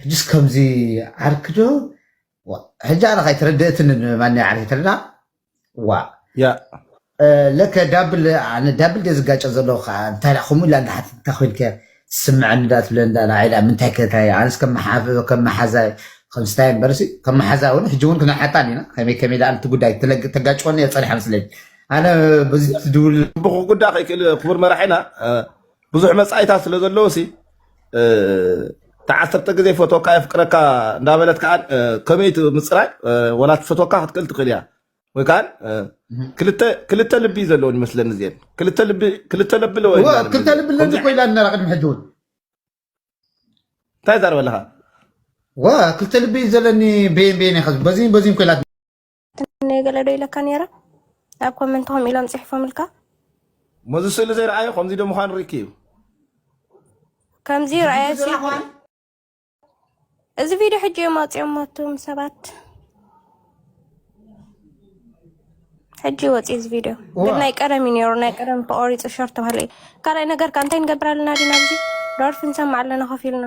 ሕጅስ ከምዚ ዓርኪ ዶ ዋእ ሕጂ ኣነኸ ኣይተረደእትንን ማንያ ዓርኪ ተለና ዋእ ያ ለከ ዳብል ኣነ ዳብል ደ ዝጋጨ ዘለኹ ከኣ እንታይ ደኣ ከምኡ ኢላ እንዳሓተት እንታይ ኮይንከ ስምዐኒ ዳ ትብለኒ ዳ ንዓይ ደኣ ምንታይ ከ እንታይ ኣነስ ከም መሓፍ ከም መሓዛይ ከም ስታይ እምበርሲ ከም መሓዛ እውን ሕጂ እውን ክንሓታን ኢና ከመይ ከመይ ደኣ ነቲ ጉዳይ ተለግ- ተጋጭወኒ እየ ፀኒሓ መስለኝ ኣነ በዚ ትድውል ክብኩ ጉዳ ከይክእል ክቡር መራሒና እ፣ ብዙሕ መጻኢታት ስለ ዘለዎ ሲ ተዓሰርተ ግዜ ፈቶካ የፍቅረካ እንዳበለት ከዓ ከመይ ምፅራይ ወላ ትፈቶካ ክትክእል ትኽእል እያ ወይ ከዓ ክልተ ልቢ እዩ ዘለዎን ይመስለኒ እዚአን ክልተ ልቢ ክልተ ልቢ ኣለዎ ክልተ ልቢ ኣለኒ ኮይላ ነራ ቅድሚ ሕጂ እውን እንታይ ዛረበለኻ ዋ ክልተ ልቢ እዩ ዘለኒ በየን በየን ኢኻ በዚን በዚን ኮይላ ትምነዮ ገለ ዶ ኢለካ ነይረ ኣብ ኮመንት ከምኡ ኢሎም ጽሒፎምልካ መዚ ስእሊ ዘይረኣዮ ከምዚ ዶ ምዃኑ ርኢኪ እዩ ከምዚ ረኣየ እዚ ቪድዮ ሕጂ እዮም ኣውፅኦም ሞቱም ሰባት ሕጂ ወፂ እዚ ቪድዮ ግን ናይ ቀደም እዩ ነይሩ ናይ ቀደም ተቆሪፁ ሸር ተባሃለ እዩ ካልኣይ ነገር ከ እንታይ ንገብር ኣለና ዲና ኣብዚ ዶርፊ ንሰማዕ ኣለና ኮፍ ኢልና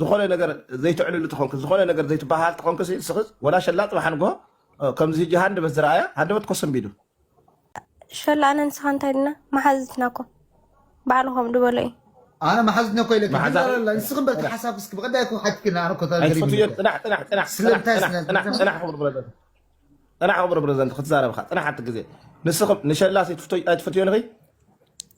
ዝኾነ ነገር ዘይትዕልሉ ተኾንክ ዝኾነ ነገር ዘይትበሃል ተኾንክ ስኽዝ ወላ ሸላ ፅባሕ ንግሆ ከምዚ ህጂ ሃንደበት ዝረኣያ ሃንደበት ኮሰንቢዱ ሸላ ኣነ ንስኻ እንታይ ድና መሓዝትና እኮ ባዕልኹም ድበሎ እዩ ኣነ መሓዝትና እኮ ኢለካ ንስኽም በቲ ሓሳብ እስኪ ብቀዳይ እኮ ሓትክና ኣነ እኮ ፅናሕ ክቡር ፕረዚደንት ክትዛረብካ ፅናሕ ኣቲ ግዜ ንስኽም ንሸላ ኣይትፈትዮ ንኺ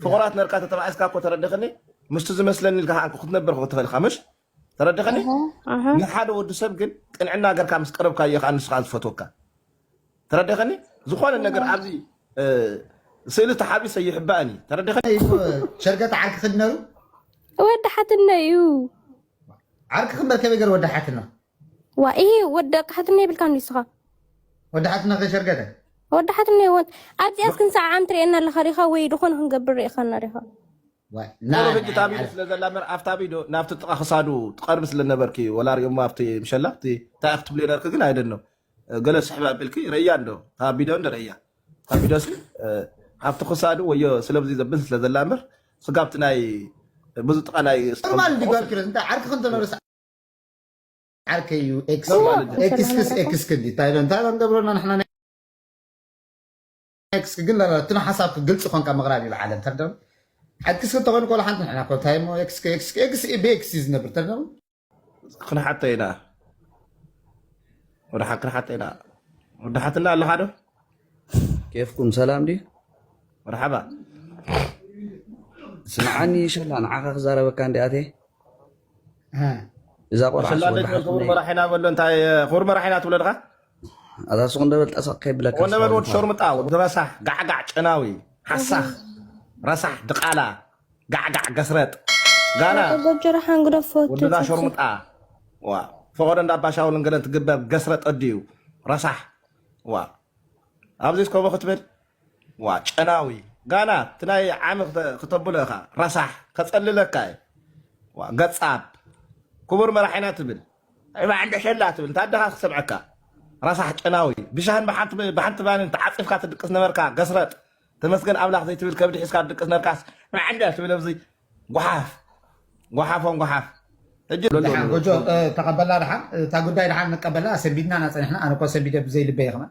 ፍቑራት ነርካ ተተባኢስካ እኮ ተረድኽኒ ምስቲ ዝመስለኒ ኢልካ ከኣ ክትነብር ክትኽእል ኢኻ ምሽ ተረድኽኒ እህ እህ ንሓደ ወዲ ሰብ ግን ቅንዕና ገርካ ምስ ቀረብካዮ ከኣ ንሱ ከኣ ዝፈትወካ ተረድኽኒ ዝኾነ ነገር ኣብዚ እ፣ ስእሊ ተሓቢሰ ይሕባእን እዩ ተረድኽኒ እዩ ሸርገት ዓርኪ ክድነሩ ወዲ ሓትነ እዩ ዓርኪ ክንበር ከመይ ገር ወዲ ሓትና ዋኢ ወዲ ደቂ ሓትኖ የብልካን ድዩ ንስኻ? ወዲ ሓትኖ ከይሸርገደ ወዲ ሓትኖ ይወት ኣብዚኣስ ክንሰዓዓም ትርእየና ኣለኻ ሪኻ ወይ ድኾነ ክንገብር ርኢኻና ሪኻ ቁሩብ ሕጂ ታቢሉ ስለ ዘላ ምበር ኣብታ ቪድዮ ናብቲ ጥቓ ክሳዱ ትቐርቢ ስለ ነበርኪ ወላ ሪኦሞ ኣብቲ ምሸላ እቲ እንታይ ክትብሉ ነርኪ ግን ኣይደኖ ገለ ስሕብ ኣቢልኪ ረእያ እንዶ እታ ቪድዮ እንዶ ረእያ እታ ቪድዮ ሲ ኣብቲ ክሳዱ ወዮ ስለብዚ ዘብል ስለ ዘላ ምበር ስጋብቲ ናይ ብዙ ጥቓ ናይ ኖርማል ዲጓልኪ እንታይ ዓርኪ ክንተነርስ ዓርከይ እዩ ኤክስ ማለት ኤክስክስ ኤክስክ እንዲ እንታይ ኢለ እንታይ ንገብረና ንሕና ናይ ኤክስክ ግን ትነ ሓሳብ ግልፂ ኮንካ ምቕራብ እዩ በዓለ እንተ ሓክስ እንተኾይኑ ኮላ ሓንቲ ንሕና ኮ እንታይ እሞ ኤክስክ ኤክስክ ኤክስ ብኤክስ እዩ ዝነብር እንተ ክንሓተ ኢና ወደ ሓ ክንሓተ ኢና ወደ ሓትና ኣለኻ ዶ ኬፍኩም ሰላም ድዩ መርሓባ ስምዓኒ ሸላ ንዓኻ ክዛረበካ እንዲኣቴ እዛ ቆልዓ ኣፈላለጥ በል ክቡር መራሒና በሎ እንታይ ክቡር መራሒና ትብሎ ድኻ ኣዛ ሱቕ እንደበል ጠሰቕ ከይብለካ ኮነ በል ወዲ ሸርሙጣ ወዲ ረሳሕ ጋዕጋዕ ጨናዊ ሓሳኽ ረሳሕ ድቓላ ጋዕጋዕ ገስረጥ ጋና ጎጀራ ሓንግዶ ፎቱ ወድዛ ሸርሙጣ ዋ ፈቐዶ እንዳ ባሻውልን ገለን ትግበር ገስረጥ ኣድዩ ረሳሕ ዋ ኣብዚ ከምኡ ክትብል ዋ ጨናዊ ጋና እቲ ናይ ዓሚ ክተብሎ ኢኻ ረሳሕ ከጸልለካ እየ ዋ ገጻብ ክቡር መራሒና ትብል ዒባ ዕንደሸላ ትብል እንታይ ኣደኻ ክሰምዐካ ረሳሕ ጨናዊ ብሻህን ብሓንቲ ብሓንቲ ባንን ተዓጺፍካ ትድቅስ ነበርካ ገስረጥ ተመስገን ኣምላኽ ዘይትብል ከብዲ ሒዝካ ትድቅስ ነርካስ ዕንደ ትብል ኣብዚ ጓሓፍ ጓሓፎም ጓሓፍ ሕጂ ድሓን ጎጆ ተቀበላ ድሓን እታ ጉዳይ ድሓን ንቀበላ ሰንቢድና ኢና ጸኒሕና ኣነ እኮ ሰንቢደ ብዘይ ልበይ ከመን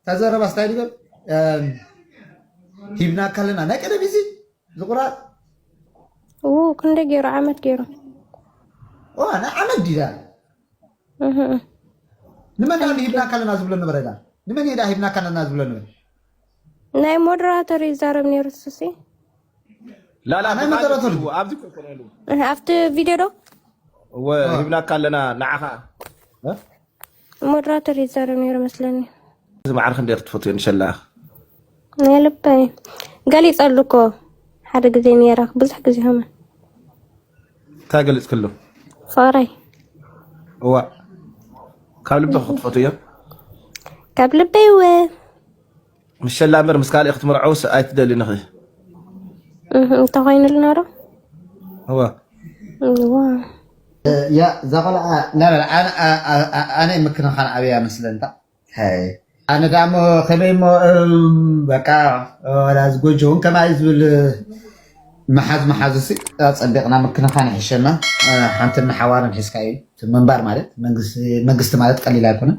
እታ ዘረባስ እንታይ ንበል ሂብናካ ኣለና ናይ ቀደም እዚ ዝቑራፅ ክንደይ ገይሩ ዓመት ገይሩ ንዓመት ድዩ ንመን ዳ ሂብናካ ኣለና ዝብሎ ነበረ ዳ ንመን ዳ ሂብናካ ኣለና ዝብሎ ነበረ ናይ ሞደራተር ይዛረብ ነይሩ ሱሲ ላላ ናይ ሞደራተር ኣብዚ ኮኮረሉ ኣብቲ ቪድዮ ዶ ሂብናካ ኣለና ንዓኻ ሞድራተር ይዛረብ ነይሩ መስለኒ። እዚ ማዕረ ክንደይ ክትፈትዮ ንሸላኽ ናይ ልበይ ገሊጸሉ እኮ ሓደ ግዜ ነይረኽ ብዙሕ ግዜ ሆመ እንታይ ገሊጽክሉ ፍቕረይ እዋ ካብ ልቢ ክትፈትዮ ካብ ልበይ እወ ምስ ሸላ እምበር ምስ ካልእ ክትምርዐውስ ኣይትደልን ኢኺ እህ እንተኾይኑልና ዶ እወ እወ ያ እዛ ቆልዓ ናበል ኣነ ምክንኻን ዓብያ መስለንታ ኣነ ዳ እሞ ከመይ እሞ በቃ ወላ እዚ ጎጆ እውን ከማይ ዝብል መሓዝ መሓዝ ሲ ኣፀቢቕና ምክንኻን ይሕሸና ሓንቲ ንሓዋርን ሒዝካ እዩ ምንባር ማለት መንግስቲ ማለት ቀሊል ኣይኮነን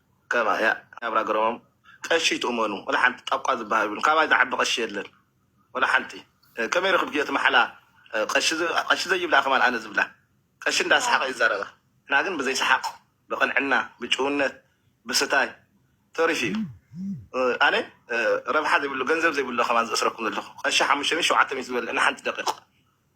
ከማ ያብራ ገረሞም ቀሺ ይትእመኑ ወላ ሓንቲ ጣቋ ዝባሃል የብሉን ካባይ ዝዓቢ ቀሺ የለን ወላ ሓንቲ ከመይ ረክብክዮ እቲ ማሓላ ቀሺ ዘይብላ ከማን ኣነ ዝብላ ቀሺ እንዳ ሰሓቀ ይዛረባ ንሕና ግን ብዘይ ሰሓቅ ብቅንዕና ብጭውነት ብስታይ ተሪፉ እዩ ኣነ ረብሓ ዘይብሉ ገንዘብ ዘይብሉ ከማን ዘእስረኩም ዘለኩ ቀሺ ሓሙሽተ ሚእቲ ሸውዓተ ሚእቲ ዝበለ ንሓንቲ ደቂቅ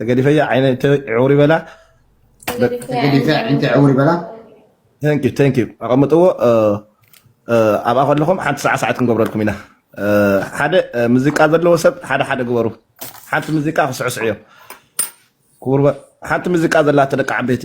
ተገዲፈያ ዓይነይ ዕውሪ በላ ተገዲፈያ ዓይነይ ዕውሪ በላ ቴንክ ዩ ቴንክ ዩ ኣቐምጥዎ ኣብኣ ከለኹም ሓንቲ ሰዓ ሰዓት ክንገብረልኩም ኢና ሓደ ሙዚቃ ዘለዎ ሰብ ሓደ ሓደ ግበሩ ሓንቲ ሙዚቃ ክስዕስዑ እዮም ክቡር ሓንቲ ሙዚቃ ዘላቶ ደቂ ዓበይቲ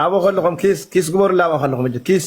ኣበ ከለኹም ኪስ ግበሩላ ኣበ ከለኹም ኪስ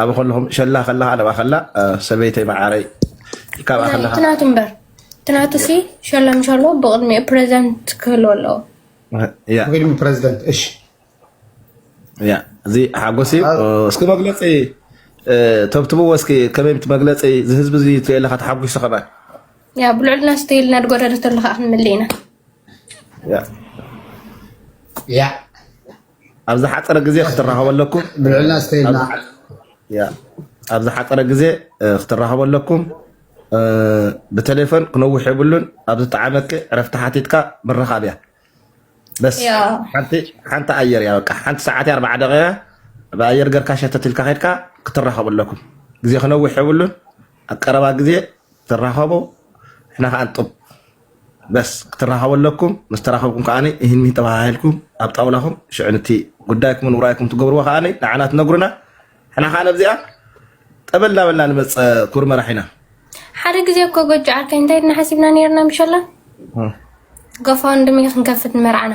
ኣብ ከለኹም ሸላ ከለካ ለባ ከላ ሰበይተይ መዓረይ ካብኣ ከለካ ትናቱ እምበር ትናቱ ሲ ሸላ ምሻሎ ብቅድሚ ፕሬዚደንት ክህልዎ ኣለዎ ቅድሚ ፕሬዚደንት እሺ ያ እዚ ሓጎስ እዩ እስኪ መግለፂ ተብትብዎ እስኪ ከመይ መግለፂ ዝህዝቢ እዚ ትለካ ተሓጒሱ ከማ ያ ብልዕልና ስተይልና ድጎደደተለካ ክንምልእ ኢና ያ ኣብ ዝሓፀረ ግዜ ክትራኸቡ ኣለኩም። ብልዕልና እስከ ኢልና ያ ኣብ ዝሓፀረ ግዜ እ፣ ክትራኸቡ ኣለኩም። እ፣ ብቴሌፎን ክነውሕ የብሉን። ኣብ ዝጠዓመኪ ዕረፍቲ ሓቲትካ ምርኻብ እያ በስ። ያ ሓንቲ ሓንቲ ኣየር እያ በቃ ሓንቲ ሰዓት እያ ኣርባዓ ደቂቃ ብኣየር ገርካ ሸተት ኢልካ ከድካ ክትራኸቡ ኣለኩም። ግዜ ክነውሕ የብሉን። ኣብ ቀረባ ግዜ ትራኸቡ፣ ንሕና ከዓ ንጡብ በስ ክትራኸቡ ኣለኩም ምስ ተራኸብኩም ከዓ ይህን ሚህን ተባሃሂልኩም ኣብ ጣውላኹም ሽዑ ንቲ ጉዳይኩምን ውራይኩም ትገብርዎ ከዓ ንዓና ትነግሩና ሕና ከዓ ነብዚኣ ጠበል እናበልና ንመፀ ኩር መራሒና ሓደ ግዜ እኮ ጎጆ ዓርከይ እንታይ ድና ሓሲብና ነርና ምሸላ ጎፋንድሚ ክንከፍት ንመርዓና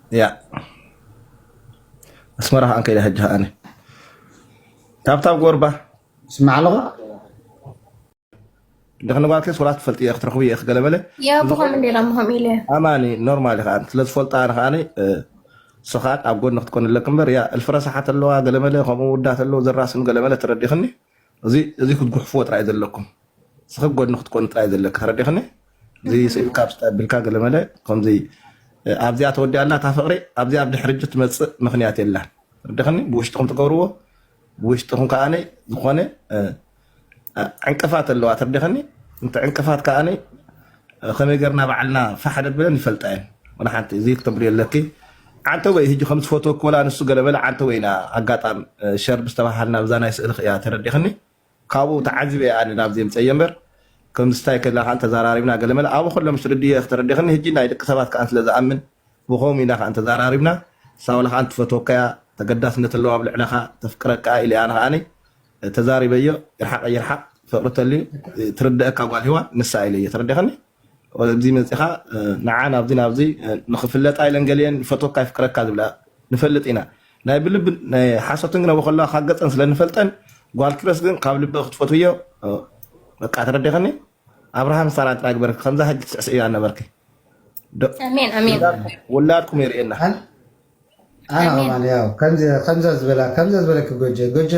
ያ ኣስመራ ከኣ ከይደ ሕጂ ከኣ ታብታብ ጎርባ ስማዕ ኣለኻ ድሕን ጓልከስ ወላ ትፈልጥ እየ ክትረኽቡ እየ ክገለመለ ኣማኒ ኖርማል ከዓ ስለዝፈልጣ ኣነ ከዓ ስኻን ኣብ ጎኒ ክትኮን ኣለክ እምበር ያ እልፍረሳሓት ኣለዋ ገለመለ ከምኡ ውዳት ኣለዎ ዘራስም ገለመለ ተረዲኽኒ እዚ እዚ ክትጉሕፍዎ ጥራይ ዘለኩም ስክብ ጎድኒ ክትኮኑ ጥራይ ዘለኪ ተረዲኽኒ እዚ ስኢልካ ብስታ ኣቢልካ ገለመለ ከምዚ ኣብዚኣ ተወዲኣ ኣላ እታ ፍቅሪ ኣብዚኣ ኣብ ድሕሪ እጂ ትመፅእ ምክንያት የላን ተረዲኽኒ ብውሽጥኹም ትገብርዎ ብውሽጥኹም ከዓ ዝኾነ ዕንቅፋት ኣለዋ ተረዲኽኒ እንተ ዕንቅፋት ከዓ ከመይ ገርና ባዕልና ፋሕ ነብለን ይፈልጣ እየን ወላ ሓንቲ እዚ ክተብልዮ ኣለኪ ዓንተወይ ህጂ ከም ዝፈትወኪ ወላ ንሱ ገለ በለ ዓንተወይ ኢና ኣጋጣም ሸር ምስ ተባሃልና ብዛ ናይ ስእልኺ እያ ተረዲኽኒ ካብኡ ተዓዚበ እየ ኣነ ናብዚ ምፀየ እምበር ከም ዝታይ ከለና ከዓ ተዛራሪብና ገለ መለ ኣብኡ ከሎ ምስ ርድየ ክተረዲኽኒ ህጂ ናይ ደቂ ሰባት ከዓ ስለ ዝኣምን ብከምኡ ኢና ከዓ ተዛራሪብና ሳውላ ከዓ ትፈትወካ እያ ተገዳስነት ኣለዋ ኣብ ልዕለኻ ተፍቅረካ እያ ኢለ ኣነ ከዓ ተዛሪበዮ ይርሓቅ ይርሓቅ ፍቅሪ ተልዩ ትርደኣካ ጓል ሂዋን ንሳ ኢለዮ ተረዲካኒ ኣብዚ መጺኻ ንዓ ናብዚ ናብዚ ንኽፍለጣ ኢለን ገሊኤን ይፈትወካ ይፍቅረካ ዝብላ ንፈልጥ ኢና ናይ ብልቢ ናይ ሓሶትን ግን ኣብኡ ከለዋ ካብ ገጸን ስለ ንፈልጠን ጓል ኪሮስ ግን ካብ ልቢ ክትፈትውዮ በቃ ተረዲኸኒ ኣብርሃም ሳራ ጥራይ ግበርኪ ከምዛ ሕጂ ትስዕስዕዮ ኣነበርኪ ውላድኩም የርእየና ኣነ ኣሜን ከማን ያው ከምዚ ከምዛ ዝበላ ከምዛ ዝበለኪ ጎጀ ጎጀ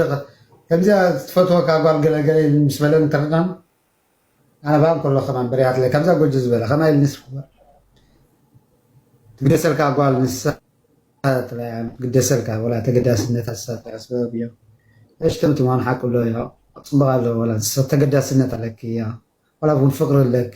ከምዚኣ ትፈትወካ ጓል ገለ ገለ ምስ በለን ተረዳም ኣነ ባም ከሎ ከማን በሪሃትለ ከምዛ ጎጀ ዝበላ ከማይ ኢል ንስ ትግደሰልካ ጓል ንሳ ጥራይ እያ ትግደሰልካ ወላ ተገዳስነት ንሳ ጥራይ ስበብ እዮ እሽ ተምቲ ምዃኑ ሓቂ ኣሎ እዮ ጽቡቕ ኣሎ ወላ ንሳ ተገዳስነት ኣለኪ እያ ወላ እውን ፍቅሪ ኣለኪ